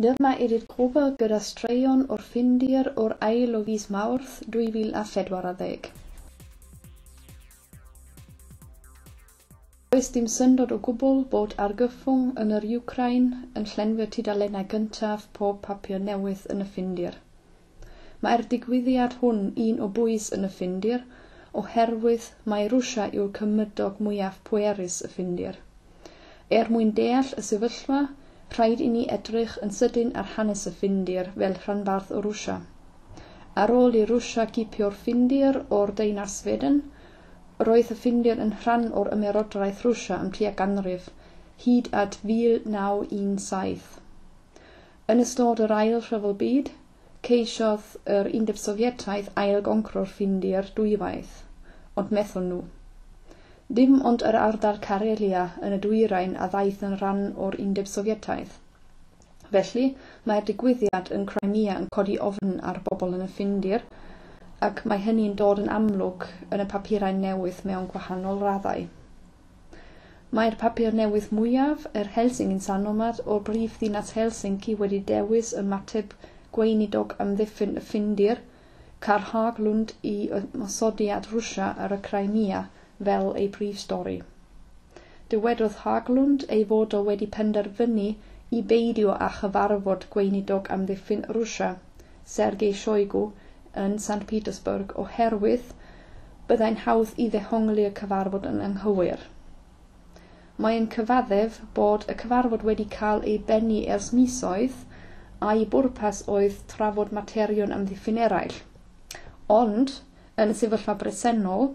Dyma ydi'r gwobr gyda straeon o'r Ffindir o'r ail o fis Mawrth 2014. Does dim syndod o gwbl bod argyfwng yn yr Wcráin yn llenwi'r tudalennau gyntaf pob papur newydd yn y Ffindir. Mae'r digwyddiad hwn un o bwys yn y Ffindir oherwydd mai Rwsia yw'r cymydog mwyaf pwerus y Ffindir. Er mwyn deall y sefyllfa, rhaid i ni edrych yn sydyn ar hanes y Ffindir fel rhanbarth o Rwsia. Ar ôl i Rwsia gipio'r Ffindir o'r Deyrnas Sweden, roedd y Ffindir yn rhan o'r Ymerodraeth Rwsia am tua ganrif, hyd at 1917. Yn ystod yr Ail Rhyfel Byd, Ceisiodd yr Undeb Sofietaidd ail-goncro'r Ffindir dwywaith, ond methon nhw. Dim ond yr ardal Karelia yn y dwyrain a ddaeth yn rhan o'r Undeb Sofietaidd. Felly, mae'r digwyddiad yn Crimea yn codi ofn ar bobl yn y Ffindir, ac mae hynny'n dod yn amlwg yn y papurau newydd mewn gwahanol raddau. Mae'r papur newydd mwyaf, yr Helsingin Sanomat, o'r brifddinas Helsinki wedi dewis ymateb Gweinidog Amddiffyn y Ffindir, Carl Haglund i ymosodiad Rwsia ar y Crimea fel ei brif stori. Dywedodd Haglund ei fod o wedi penderfynu i beidio â chyfarfod Gweinidog Amddiffyn Rwsia, Sergei Shoigu, yn St Petersburg oherwydd byddai'n hawdd i ddehongli y cyfarfod yn anghywir. Mae yn cyfaddef bod y cyfarfod wedi cael ei bennu ers misoedd a'i bwrpas oedd trafod materion amddiffyn eraill. Ond, yn y sefyllfa bresennol,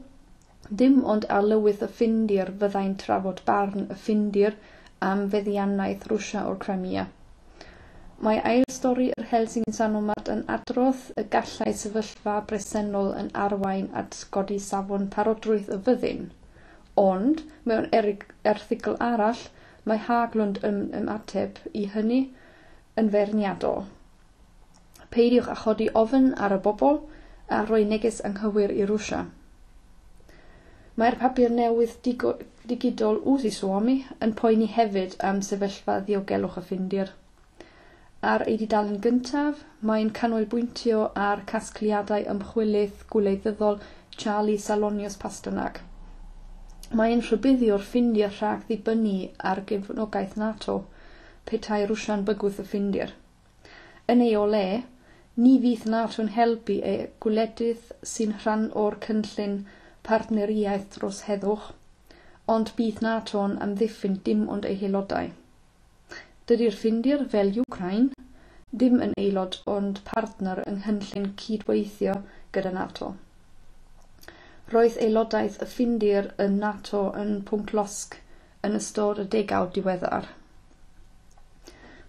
Dim ond ar lywydd y Ffindir fyddai'n trafod barn y Ffindir am feddiannaeth Rwsia o'r Crimea. Mae ail stori yr Helsingin Sanomat yn adrodd y gallai sefyllfa bresennol yn arwain at godi safon parodrwydd y fyddin. Ond, mewn erthygl arall, mae Haglund yn ymateb i hynny yn feirniadol. Peidiwch â chodi ofn ar y bobl a rhoi neges anghywir i Rwsia. Mae'r papur newydd digidol Uusi Suomi yn poeni hefyd am sefyllfa ddiogelwch y Ffindir. Ar ei dudalen gyntaf, mae'n canolbwyntio ar casgliadau ymchwilydd gwleiddyddol Charlie Salonius Pasternak. Mae'n rhybuddio'r Ffindir rhag dibynnu ar gefnogaeth NATO petai Rwsia'n bygwth y Ffindir. Yn ei o le, ni fydd NATO'n helpu y gwledydd sy'n rhan o'r cynllun partneriaeth dros heddwch, ond bydd NATO'n amddiffyn dim ond ei haelodau. Dydy'r Ffindir, fel Wcráin, ddim yn aelod ond partner yng nghynllun cydweithio gyda NATO. Roedd aelodaeth y Ffindir yn NATO yn pwnc losg yn ystod y degawd diweddar.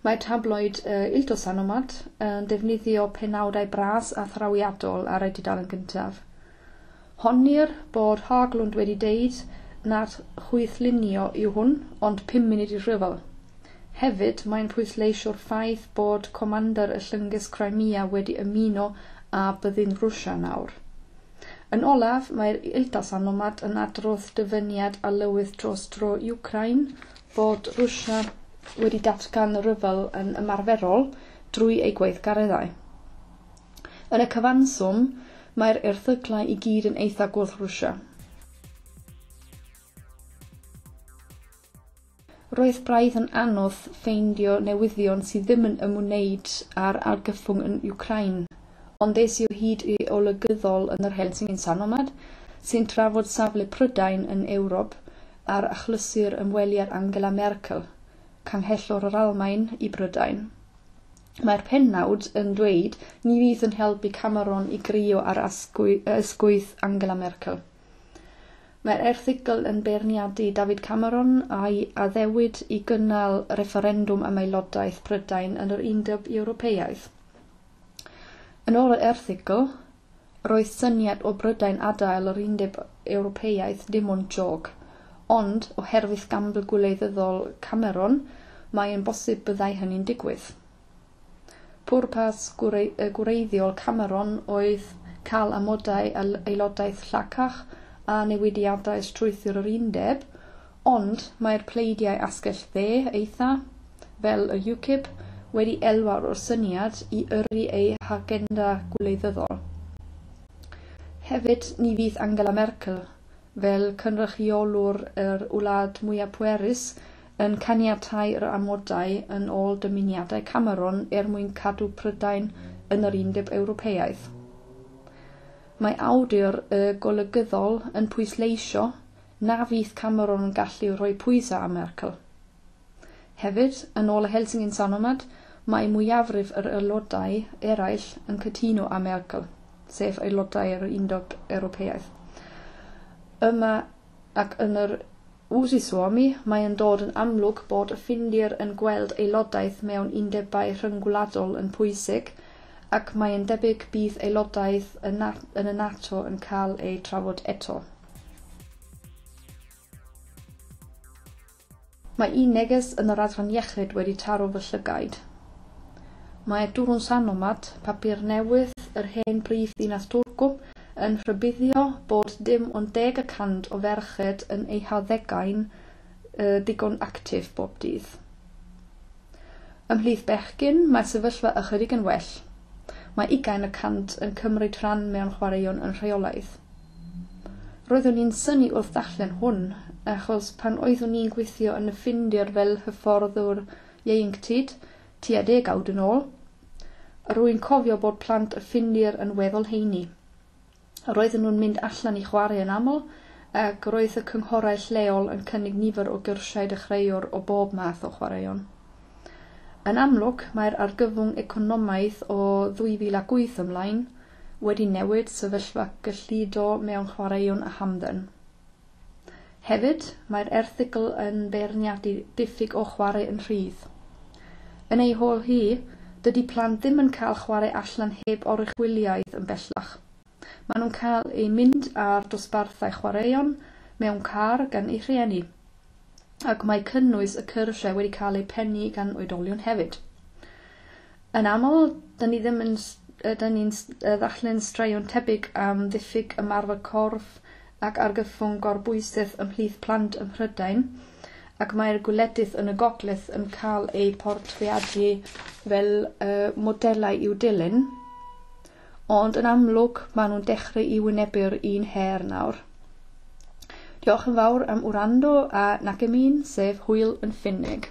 Mae tabloid y Il Tosanomat yn defnyddio penawdau bras a thrawiadol ar ei dudalen gyntaf. Honnir bod Haglund wedi deud nad chwythlunio yw hwn, ond pum munud i'r rhyfel. Hefyd, mae'n pwysleisio'r ffaith bod comander y llynges Crimea wedi ymuno â byddin Rwsia nawr. Yn olaf, mae'r Il Tosanomat yn adrodd dyfyniad a lywydd dros dro Wcráin, bod Rwsia wedi datgan rhyfel yn ymarferol drwy ei gweithgareddau. Yn y cyfanswm, mae'r erthyglau i gyd yn eitha gwrth Rwsia. Roedd braidd yn anodd ffeindio newyddion sydd ddim yn ymwneud â'r argyfwng yn Wcráin. Ond es i o hyd i olygyddol yn yr Helsingin Sanomat sy'n trafod safle Prydain yn Ewrop ar achlysur ymweliad Angela Merkel, Canghellor yr Almaen, i Brydain. Mae'r pennawd yn dweud ni fydd yn helpu Cameron i grio ar ysgwydd Angela Merkel. Mae'r erthygl yn beirniadu David Cameron a'i addewid i gynnal refferendwm am aelodaeth Prydain yn yr Undeb Ewropeaidd. Yn ôl yr erthygl, roedd syniad o Brydain adael yr Undeb Ewropeaidd dim ond jôc, ond, oherwydd gambl gwleidyddol Cameron, mae'n bosib byddai hynny'n digwydd. Pwrpas gwreiddiol Cameron oedd cael amodau aelodaeth llacach a newidiadau strwythur yr Undeb, Ond mae'r pleidiau asgell dde eitha', fel y UKIP, wedi elwa o'r syniad i yrru eu hagenda gwleidyddol. Hefyd, ni fydd Angela Merkel, fel cynrychiolwr yr wlad mwya' pwerus, yn caniatáu yr amodau yn ôl dymuniadau Cameron er mwyn cadw Prydain yn yr Undeb Ewropeaidd. Mae awdur y Golygyddol yn pwysleisio na fydd Cameron yn gallu rhoi pwysau ar Merkel. Hefyd, yn ôl y Helsingin Sanomat, mae mwyafrif yr aelodau eraill yn cytuno â Merkel, sef aelodau'r Undeb Ewropeaidd. Yma ac yn yr Uusi Suomi, mae'n dod yn amlwg bod y Ffindir yn gweld aelodaeth mewn undebau rhyngwladol yn pwysig, ac mae'n debyg bydd aelodaeth yn y NATO yn cael ei trafod eto. Mae un neges yn yr adran iechyd wedi taro fy llygaid. Mae Turun Sanomat, papur newydd yr hen brifddinas Turku, yn rhybuddio bod dim ond deg y cant o ferched yn eu harddegau'n ddigon actif bob dydd. Ymhlith bechgyn, mae'r sefyllfa ychydig yn well. Mae ugain y cant yn cymryd rhan mewn chwaraeon yn rheolaidd. Roeddwn i'n synnu wrth ddarllen hwn, achos pan oeddwn i'n gweithio yn y Ffindir fel hyfforddwr ieuenctid tua degawd yn ôl, rwy'n cofio bod plant y Ffindir yn weddol heini. Roedden nhw'n mynd allan i chwarae yn aml, ac roedd y cynghorau lleol yn cynnig nifer o gyrsiau dechreuwr o bob math o chwaraeon. Yn amlwg, mae'r argyfwng economaidd o 2008 ymlaen wedi newid sefyllfa gyllido mewn chwaraeon a hamdden. Hefyd, mae'r erthygl yn beirniadu diffyg o chwarae yn rhydd. Yn ei hôl hi, dydy plant ddim yn cael chwarae allan heb oruchwyliaeth yn bellach. Maen nhw'n cael eu mynd ar dosbarthau chwaraeon mewn car gan eu rhieni, ac mae cynnwys y cyrsiau wedi cael eu pennu gan oedolion hefyd. Yn aml, dŷn ni ddim yn yy dŷn ni'n yy ddarllen straeon tebyg am ddiffyg ymarfer corff ac argyfwng gorbwysedd ymhlith plant ym Mhrydain, ac mae'r gwledydd yn y gogledd yn cael eu portreadu fel yy modelau i'w dilyn. Ond yn amlwg, maen nhw'n dechrau i wynebu'r un her nawr. Diolch yn fawr am wrando a Nakemin, sef hwyl yn Ffinneg.